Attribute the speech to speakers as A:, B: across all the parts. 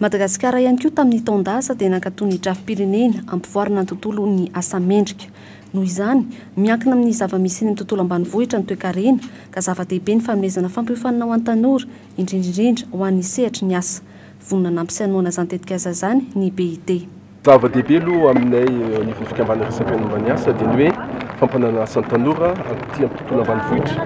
A: Madagasikara ihany koa tamin'ny taon-dasa dia nankatò ny drafi-pirenena hampivoarana ny tontolon'ny asa mendrika. Noho izany, miankina amin'ny zava-misy eny amin'ny tontolo ambanivohitra ny toekarena ka zava-dehibe ny fanomezana fampiofanana ho an'ny tanora, indrindra indrindra ho an'ny sehatry ny asa. Vonona hanampy sy hanohana izany tetikasa izany ny BIT. Zava-dehibe aloha aminay eo anivon'ny fikambanana resaka momba ny asa dia ny hoe fampanana asa ny tanora aty amin'ny tontolo ambanivohitra.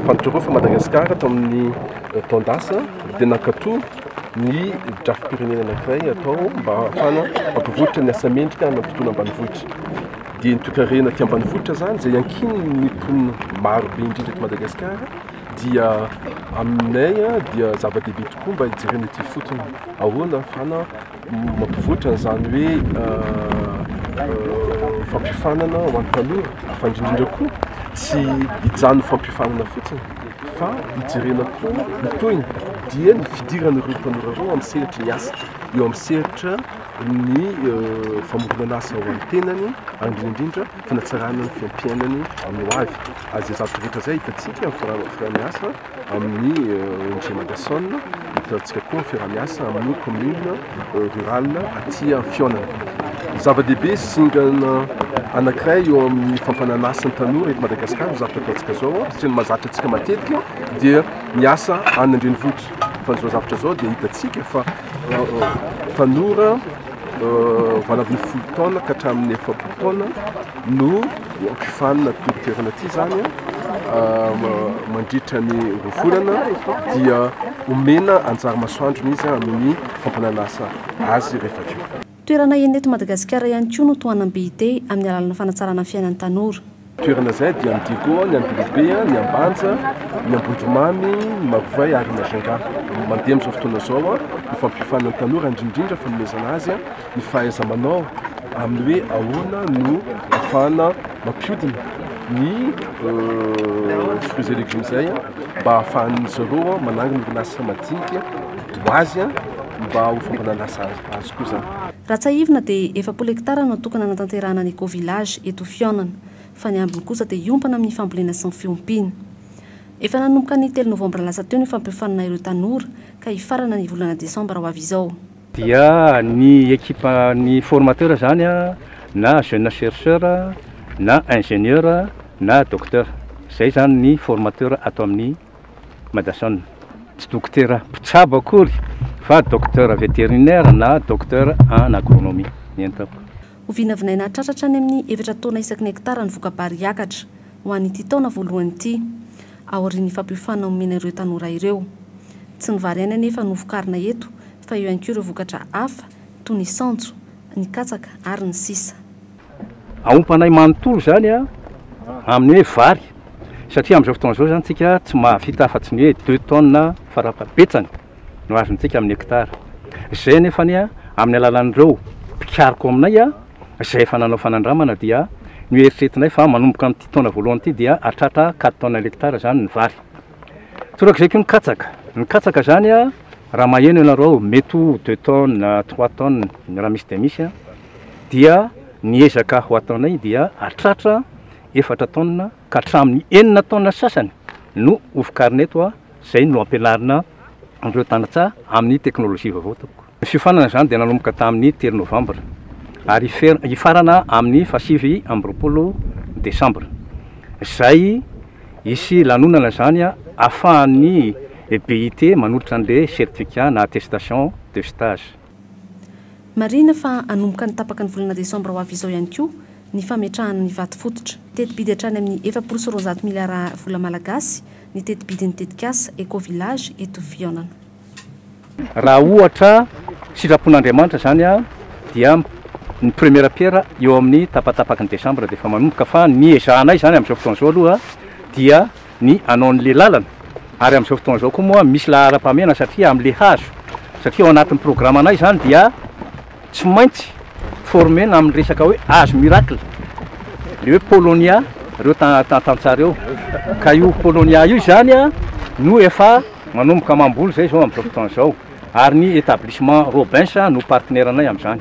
A: Fantatrareo fa Madagasikara tamin'ny eh, taon-dasa dia nankatoa ny drafi-pirenena anankiray atao mba hahafana mampivoatra ny asa mendrika amin'ny tontolo ambanivohitra. Dia ny toekarena aty ambanivohitra izany izay ankinin'ny mponina maro be indrindra eto Madagasikara dia aminay eh, dia zava-dehibe tokoa mba hijerena ity fotony ahoana hahafana Mampivoatra an'izany hoe fampiofanana ho an'ny tanora, fa indrindra indrindra koa tsy hijanona fampiofanana fotsiny fa hijerena koa ny tohiny dia ny fidirana ireo tanora ireo amin'ny sehatry ny asa, eo amin'ny sehatra ny famoronana asa ho an'ny tenany ary indrindra indrindra fanatsarana ny fiainam-piainany amin'ny hoavy. Ary izay zavatra rehetra izay hitantsika amin'ny fiaraha-miasa. Amin'ny ONG Madason, hitatsika koa ny fiaraha-miasa amin'ny commune rurale aty Fihaonana. Zava-dehibe sy zingana anankiray eo amin'ny fampananasan'ny tanora eto Madagasikara ny zavatra ataontsika izao satria ny mahazatra antsika matetika dia ny asa any an-drenivohitra. Fa izao zavatra izao dia hitantsika fa tanora vao anatin'ny folo taona ka hatramin'ny efapolo taona no Hampifanina ity toerana ity izany mandritra ny roa volana dia omena anjara masoandrony izy amin'ny fampanana asa azy rehefa avy eo. Toerana enina eto Madagasikara ihany koa no tohanam-be ite amin'ny alalana fanatsarana ny fiainan'ny tanora. Toerana izay dia ny Diego, ny Ambilobe, ny Ambanja, ny Ambondromamy, ny Marovay ary ny Majunga. Mandeha amin'izao fotoana izao ny fampiofanana ny tanora indrindra indrindra fanomezana azy ny fahaiza-manao amin'ny hoe ahoana no afahana mampiodina ny euh, fruits et légumes zay mba ahafahan'ny zareo manangana orinasa madinika ho azy mba ho fambana lasa azy koa zany Raha tsahivina dia efapolo hektara no natokana hanatanterahana ny Eco Village eto Fihaonana, fa ny ambiny kosa dia hiompana amin'ny fambolena sy ny fiompiana. Efa nanomboka ny telo novambra lasa teo ny fampiofanana ireo tanora ka hifarana ny volana desambra ho avy izao. dia ny ekipa ny formateur zany a na jeune chercheur na ingenieur na docteur zay zany ny formateur ato amin'ny madason tsy dokotera mpitsabo akory fa docteur veterinaire na docteur en agronomie ny entako. Ho vinavinaina hatratra hatrany amin'ny efatra taona isaky ny hekitara ny voka-bary hiakatra. ho an'ity taona voalohany ity, aorian'ny fampiofanana omena ireo tanora ireo. Tsy ny vary ihany anefa no vokarina eto fa eo ihany koa ireo vokatra hafa toy ny saonjo, ny katsaka ary ny sisa. Aompanay manontolo izany amin'ny hoe vary satria amin'izao fotoana izao izany isika tsy mahavita afa-tsy ny hoe deux tonnes farafahabetsany no azontsika amin'ny hectare. Izay anefa amin'ny alalan'ireo mpikaroka ao aminay. izay efa nanao fanandramana dia noeritreretinay fa manomboka amin'ity taona voalohany ity dia hahatratra quatre tonnes l'hectare izany ny vary. Torak'izay koa ny katsaka. Ny katsaka izany raha maheno ianareo mety ho deux tonnes na trois tonnes raha misy dia misy dia ny ezaka ho ataonay dia hahatratra efatra tonnes ka hatramin'ny enina tonnes sasany no hovokarina eto izay no ampianarina an'ireo tantsaha amin'ny teknolojia vaovao tompoko. Ny fiofanana izany dia nanomboka tamin'ny telo Novambra ary hifarana amin'ny fahasivy amby roapolo Desambra, izay hisy lanonana izany ahafahan'ny BIT manolotra an'ilay certificat na attestation de stage. Marihina fa hanomboka ny tapaka ny volana Desambra ho avy izao ihany koa ny fametrahana ny vato fototra. Teti-bidy hatrany amin'ny efapolo sy roanjato miliara vola malagasy ny teti-bidin'ny tetikasa Eco Village eto Fihaonana. Raha ohatra sitrapon'Andriamanitra izany dia ny première pierre eo amin'ny tapatapaky ny desambra dia efa manomboka fa ny ezahanay izany amin'izao fotoana izao aloha dia ny hanao an'le lalana ary amin'izao fotoana izao koa moa misy laharam-pahamehana satria amin'le hazo satria ao anatin'ny programanay izany dia tsy maintsy former-na amin'ny resaka hoe âge miracle, le hoe Polonia reo tantantsaha reo, ka io Polonia io izany no efa manomboka mamboly izay izao amin'izao fotoana izao, ary ny Etablissement Robins no partenaire-nay amin'izany.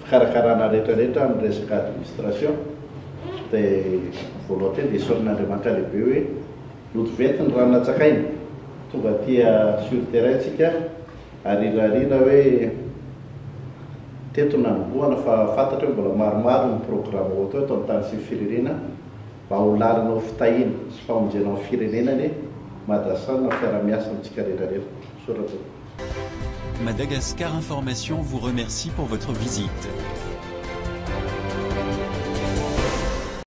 A: fikarakarana rehetra rehetra amin'ny resaka administration dia volonté dia esorina Andriamanitra lehibe hoe loto venty ny rano natsakaina tonga aty sur terrain tsika arirarira hoe teto nanombohana fa fantatro hoe mbola maromaro ny programme hoatao eto amin'ny tany sy ny firirina Mba ho lalinao fitahiana sy famonjena ao firenena anie Madasan an fiara miasa amintsika rehetra rehetra. Misaotra tompoko. Madagascar Information vous remercie pour votre visite.